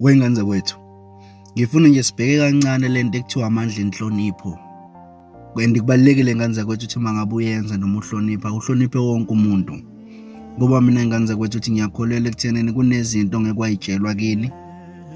Wengane zakwethu, ngifuna nje sibheke kancane le nto ekuthiwa amandla enhlonipho. And kubalulekile ngane zakwethu ukuthi uma ngabe uyenza noma uhlonipha, uhloniphe wonke umuntu. Ngoba mina ngane zakwethu ukuthi ngiyakholelwa ekuthenini kunezinto ngeke wayitshelwa kini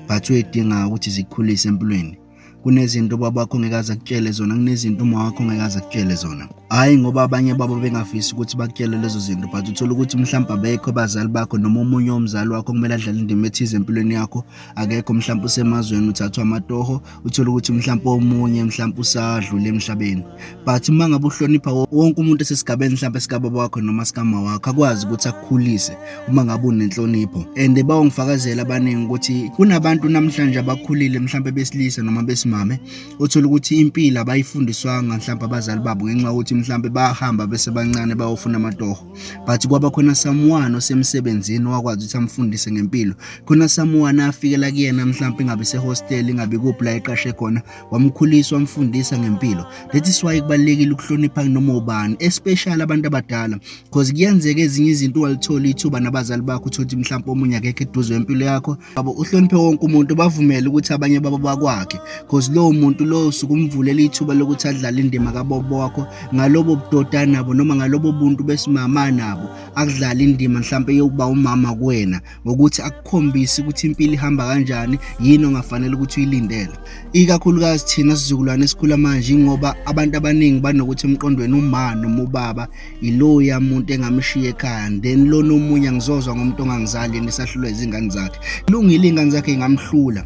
but uyidingayo ukuthi zikhulise empilweni. kunezinto ubaba wakho ngekaze akutshele zona kunezinto uma wakho ngekaze akutshele zona hhayi ngoba abanye babo bengafisi ukuthi bakutshele lezo zinto but uthole ukuthi mhlawumbe abekho abazali bakho noma omunye womzali wakho kumele adlale indima ethize empilweni yakho akekho mhlawumbe usemazweni uthathwa amatoho uthole ukuthi mhlawumbe omunye mhlawumbe usadlule emhlabeni but uma ngabe uhlonipha wonke umuntu esesigabeni mhlawumbe sikababa wakho noma sikama wakho akwazi ukuthi akukhulise uma ngabe unenhlonipho and bawongifakazela abaningi ukuthi kunabantu namhlanje abakhulile mhlawumbe besilisa noma besimame othola ukuthi impilo abayifundiswanga mhlawumbe abazali babo ngenxa yokuthi mhlawumbe bahamba besebancane bayofuna amatoho but kwaba khona someone osemsebenzini wakwazi ukuthi amfundise ngempilo khona someone afikela kuyena mhlawumbe ingabe sehostel ingabe kuphi la eqashe khona wamkhulisa wamfundisa ngempilo that is why kubalekile ukuhlonipha kunoma ubani especially abantu abadala because kuyenzeka ezinye izinto ungalithola ithuba nabazali bakho uthothi mhlawumbe omunye akekho eduze wempilo yakho babo uhloniphe wonke umuntu bavumele ukuthi abanye babo bakwakhe because lowo muntu lowo usuke umvulela ithuba lokuthi adlale indima kabobo wakho ngalobo budoda nabo noma ngalobo buntu besimama nabo akudlala indima mhlawumbe yokuba umama kuwena ngokuthi akukhombise ukuthi impilo ihamba kanjani yini ongafanele ukuthi uyilindele ikakhulukazi thina sizukulwane esikhula manje ingoba abantu abaningi banokuthi emqondweni uma noma ubaba iloya muntu engamshiya ekhaya then lona omunye angizozwa ngomuntu ongangizali yena esahlulwa izingane zakhe lungile iy'ngane zakhe ingamhlula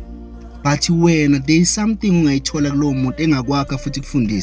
but wena there is something ungayithola kulowo muntu engakwakha futhi kufundise